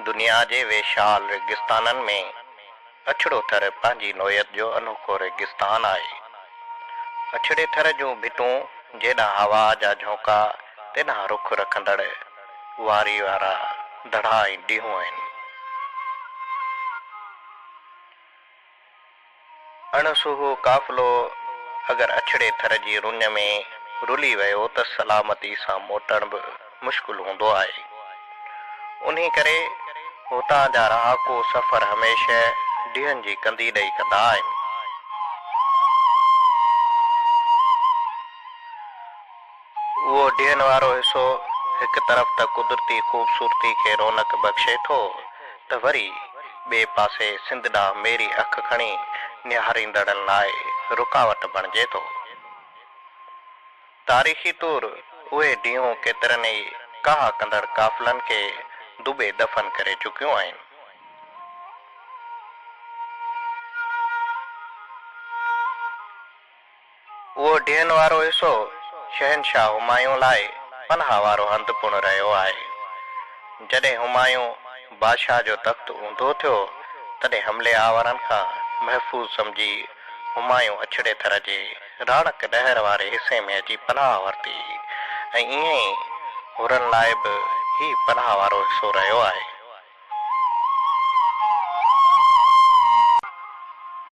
دنيا جي ويشال ريگستانن ۾ اڇڙو ٿر پنهنجي نوعيت جو انوکو ريگستان آهي. اڇڙي ٿر جون ڀتون جيڏانهن هوا جا جهونڪا تيڏانهن رخ رکندڙ واري وارا دڙا ۽ ڊيهون آهن. اڻ سوهو قافلو اگر اڇڙي ٿر جي رڃ ۾ رلي ويو ته سلامتي سان موٽڻ به مشڪل هوندو آهي. انهي ڪري هتان جا رهاڪو سفر هميشه ڊيهن جي ڪندي ڏئي ڪندا آهن. اهو ڊيهن وارو حصو هڪ طرف ته قدرتي خوبصورتي کي رونق بخشي ٿو ته وري ٻئي پاسي سنڌ ڏانهن ميري اک کڻي نهاريندڙن لاء رڪاوٽ بڻجي ٿو. تاريخي طور اهي ڊيهون ڪيترن ئي ڪاهه ڪندڙ قافلن کي دٻي دفن ڪري چڪيون آهن. اهو ڊيهن وارو حصو شهنشاهه همايون لاء پناهه وارو هنڌ پڻ رهيو آهي. جڏهن همايون بادشاهه جو تخت اونڌو ٿيو، تڏهن حملي آورن کان محفوظ سمجهي همايون اڇڙي ٿر جي راڻڪ نهر واري حصي ۾ اچي پناهه ورتي ۽ ائين ئي حرن لاء به هي پناهه وارو حصو رهيو آهي.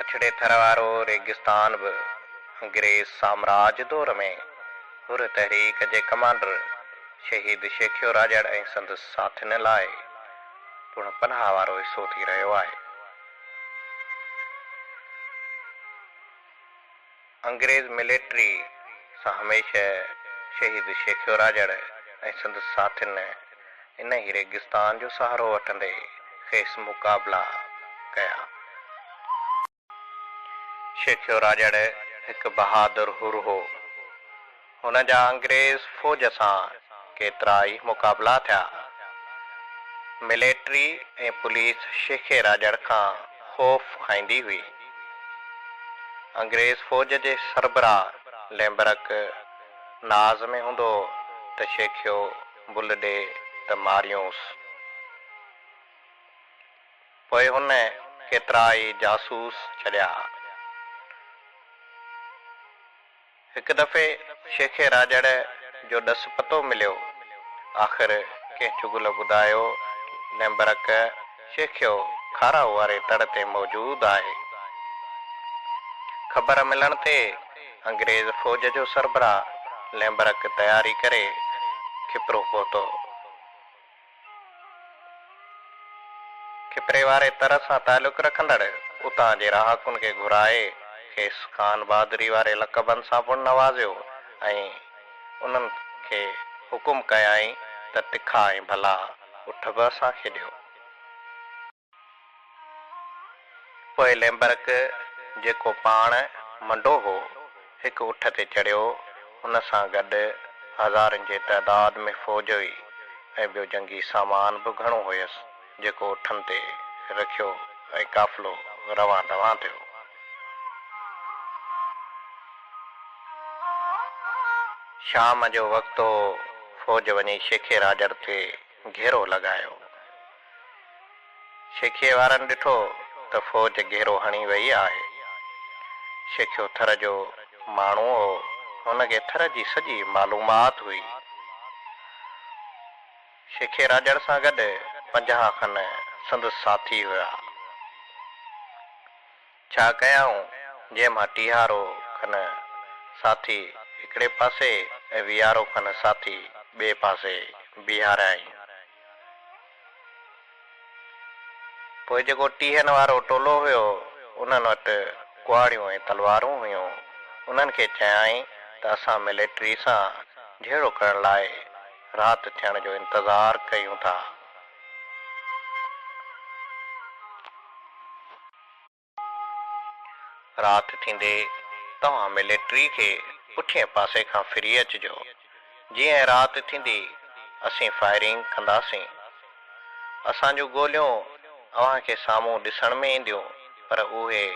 اڇڙي ٿر وارو ريگستان به انگريز سامراج دور ۾ حر تحريڪ جي ڪمانڊر شهيد شيخيو راڄڙ ۽ سندس ساٿين لاء پڻ پناهه وارو حصو ٿي رهيو آهي. انگريز مليٽري سان هميشه شهيد شيخيوراجڙ ۽ سندس ساٿين انهي ريگستان جو سهارو وٺندي کيس مقابلا ڪيا. شيخيو راڄڙ هڪ بهادر حر هو. هن جا انگريز فوج سان ڪيترا ئي مقابلا ٿيا. مليٽري ۽ پوليس شيخي راڄڙ کان خوف کائيندي هئي. انگريز فوج جي سربراهه ليمبرڪ ناز ۾ هوندو هو ته شيخيو بل ڏي ته ماريونس. پوء هن ڪيترائي جاسوس ڇڏيا. هڪ دفعي شيخ راڄڙ جو ڏس پتو مليو. آخر ڪنهن چغل ٻڌايو ليمبرڪ شيخيو کارائو واري تڙ تي موجود آهي. خبر ملڻ تي انگريز فوج جو سربراهه ليمبرڪ تياري ڪري کپرو پهتو. کپري واري تر سان تعلق رکندڙ اتان جي رهاڪن کي گهرائي کيس خان بهادري واري لقبن سان پڻ نوازيو ۽ انهن کي حڪم ڪيائين ته تکا ۽ ڀلا اٺ به اسان کي ڏيو. پوء ليمبرڪ، جيڪو پاڻ منڊو هو، هڪ اٺ تي چڙهيو، ان سان گڏ هزارن جي تعداد ۾ فوج هئي ۽ ٻيو جنگي سامان به گهڻو هيس، جيڪو اٺن تي رکيو ۽ قافلو روان دوان ٿيو. شام جو وقت هو، فوج وڃي شيخي راڄڙ تي گهيرو لڳايو. شيخيء وارن ڏٺو ته فوج گهيرو هڻي ويئي آهي. شيخيو ٿر جو ماڻهو هو، هن کي ٿر جي سڄي معلومات هئي. شيخي راڄڙ سان گڏ پنجاهه کن سندس ساٿي هيا. ڇا ڪيائون جنهن مان ٽيهارو ڪن ساٿي هڪڙي پاسي ۽ ويهارو ڪن ساٿي ٻئي پاسي بيهاريائين. پوء جيڪو ٽيهن وارو ٽولو هيو انهن وٽ ڪهاڙيون ۽ تلوارون هيون انهن کي چيائين ته اسان ملٽري سان جهيڙو ڪرڻ لاء رات ٿيڻ جو انتظار ڪيون ٿا. رات ٿيندي توهان ملٽري کي پٺئين پاسي کان ڦري اچجو، جيئن رات ٿيندي اسين فائرنگ ڪنداسين. اسان جون گوليون اوهان کي سامهون ڏسڻ ۾ اينديون پر اهي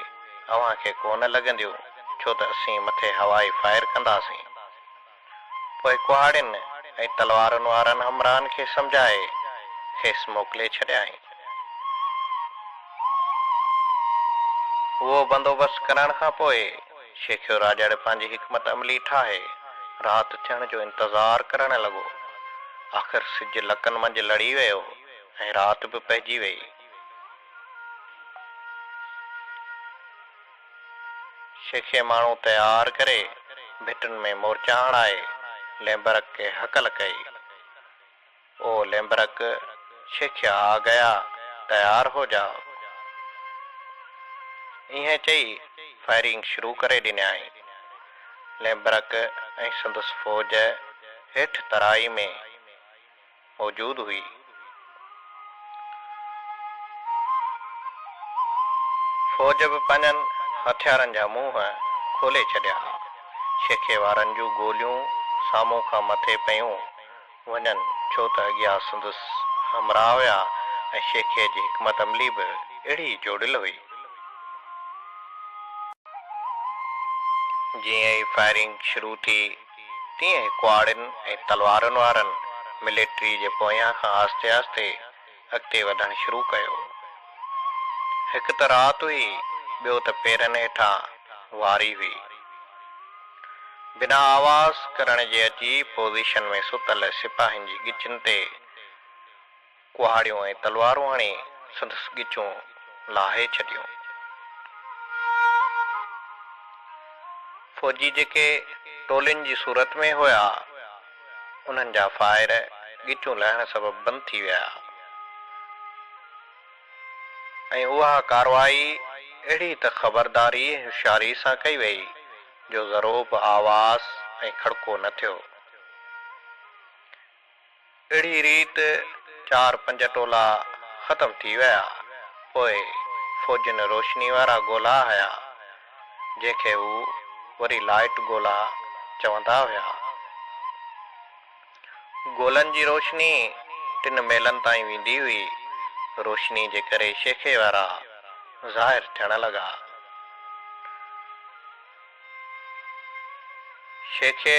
اوهان کي ڪونه لڳنديون ڇو ته اسين مٿي هوائي فائر ڪنداسين. پوء ڪهاڙين ۽ تلوارن وارن همراهن کي سمجهائي کيس موڪلي ڇڏيائين. اهو بندوبست ڪرائڻ کان پوء شيخيو راڄڙ پنهنجي حڪمت عملي ٺاهي رات ٿيڻ جو انتظار ڪرڻ لڳو. آخر سج لڪن منجهه لڙي ويو ۽ رات به پئجي ويئي. سيخي ماڻهو تيار ڪري، ڀٽن ۾ مورچا هڻائي، ليمبرڪ کي هڪل ڪئي. او ليمبرڪ، سيخيا آ گيا، تيار هو جاء. ائين چئي فائرنگ شروع ڪري ڏنيائين. ليمبرڪ ۽ سندس فوج هيٺ ترائي ۾. موجود هئي. فوج به پنهنجن هٿيارن جا منهن کولي ڇڏيا. شيخي وارن جون گوليون سامهون کان مٿي پيون وڃن ڇو ته اڳيان سندس همراهه هيا ۽ شيخي جي حڪمت عملي به اهڙي جوڙيل هئي. جيئن ئي فائرنگ شروع ٿي تيئن ئي ڪهاڙين ۽ تلوارن وارن مليٽريء جي پويان کان آهستي آهستي اڳتي وڌڻ شروع ڪيو. هڪ ته رات هئي، ٻيو ته پيرن هيٺان واري هئي. بنا آواز ڪرڻ جي عجيب پوزيشن ۾ ستل سپاهين جي ڳچن تي ڪهاڙيون ۽ تلوارون هڻي سندس ڳچون لاهي ڇڏيون. فوجي جيڪي ٽولين جي صورت ۾ هيا، انهن جا فائر ڳچون لهڻ سبب بند ٿي ويا ۽ اها ڪارروائي اهڙي ته خبرداري ۽ هوشياري سان ڪئي وئي جو ذرو به آواز ۽ کڙڪو نه ٿيو. اهڙي ريت چار پنج ٽولا ختم ٿي ويا. پوء فوجين روشني وارا گولا هنيا، جنهن کي هو وري لائيٽ گولا چوندا هيا. گولن جي روشني ٽن ميلن تائين ويندي هئي. روشني جي ڪري شيخي وارا ظاهر ٿيڻ لڳا. شيخي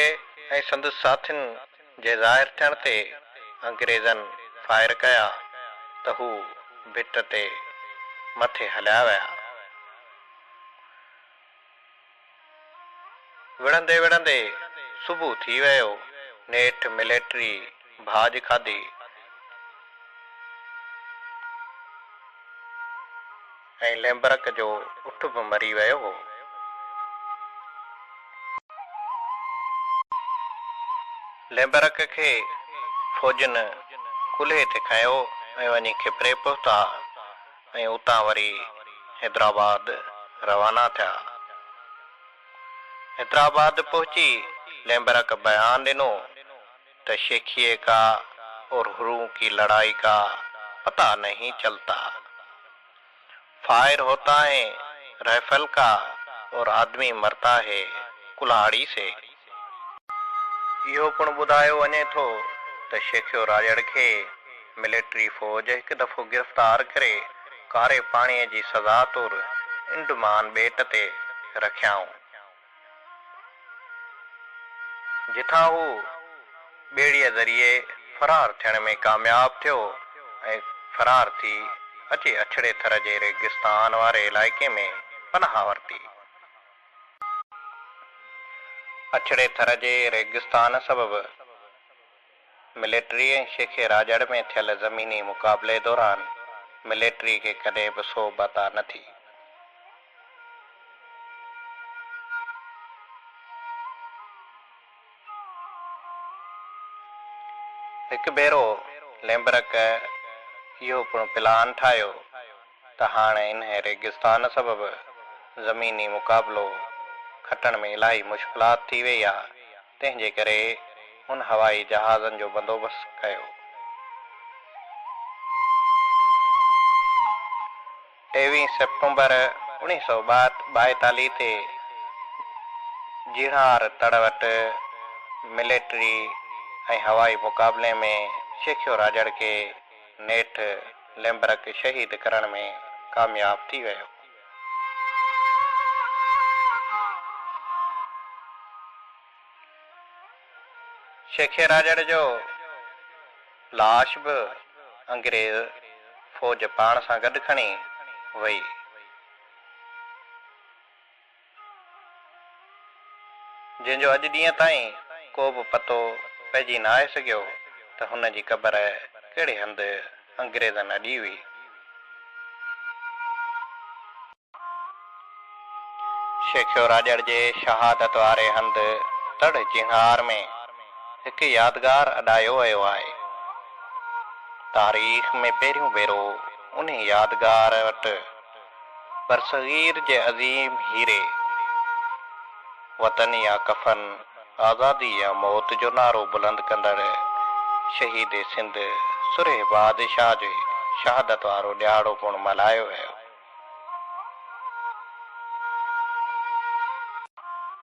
۽ سندس ساٿين. جي ظاهر ٿيڻ تي انگريزن فائر ڪيا ته هو ڀت تي مٿي هليا ويا. وڙهندي وڙهندي صبح ٿي ويو. نيٺ مليٽري ڀاڄ کاڌي. ۽ ليمبرڪ جو اٺ به مري ويو هو. ليمبرڪ کي فوجين ڪلهي تي کنيو ۽ وڃي کپري پهتا ۽ اتان وري حيدرآباد روانا ٿيا. حيدرآباد پهچي ليمبرڪ بيان ڏنو. ته شيخيء ڪا اور هرون ڪي لڙائي ڪا پتا نهين چلتا. فائر هوتا هي رائفل ڪا اور آدمي مرتا هي ڪلهاڙي سي. اهو پڻ ٻڌايو وڃي ٿو ته شيخيو راڄڙ کي ملٽري فوج هڪ دفعو گرفتار ڪري ڪاري پاڻيء جي سزا طور انڊمان ٻيٽ تي رکيائون. جتان هو ٻيڙيء ذريعي فرار ٿيڻ ۾ ڪامياب ٿيو ۽ فرار ٿي اچي اڇڙي ٿر جي ريگستان واري علائقي ۾ پناهه ورتي. اڇڙي ٿر جي ريگستان سبب ملٽري ۽ شيخ راڄڙ ۾ ٿيل زميني مقابلي دوران ملٽري کي ڪڏهن به سوڀ عطا نه ٿي. هڪ ڀيرو ليمبرڪ اهو پڻ پلان ٺاهيو ته هاڻ انهيء ريگستان سبب زميني مقابلو کٽڻ ۾ الاهي مشڪلات ٿي ويئي آ. تنهن جي ڪري هن هوائي جهازن جو بندوبست ڪيو. ٽيويهين سيپٽمبر اوڻيهه سؤ ٻائيتاليهه تي جيڻهار تڙ وٽ مليٽري ۽ هوائي مقابلي ۾ شيخيو راڄڙ کي نيٺ ليمبرڪ شهيد ڪرڻ ۾ ڪامياب ٿي ويو. شيخي راڄڙ جو لاش به انگريز فوج پاڻ سان گڏ کڻي وئي. جنهن جو اڄ ڏينهن تائين ڪو به پتو پئجي نه آهي سگهيو ته هن جي قبر ڪهڙي هنڌ انگريزن اڏي هئي. شيخيو راڄڙ جي شهادت واري هنڌ تڙ جهنگار ۾ هڪ يادگار اڏايو ويو آهي. تاريخ ۾ پهريون ڀيرو انهي يادگار وٽ برصغير جي عظيم هيري، وطن يا ڪفن، آزادي يا موت جو نعرو بلند ڪندڙ شهيد سنڌ سرهي بادشاهه جي شهادت وارو ڏهاڙو پڻ ملهايو ويو.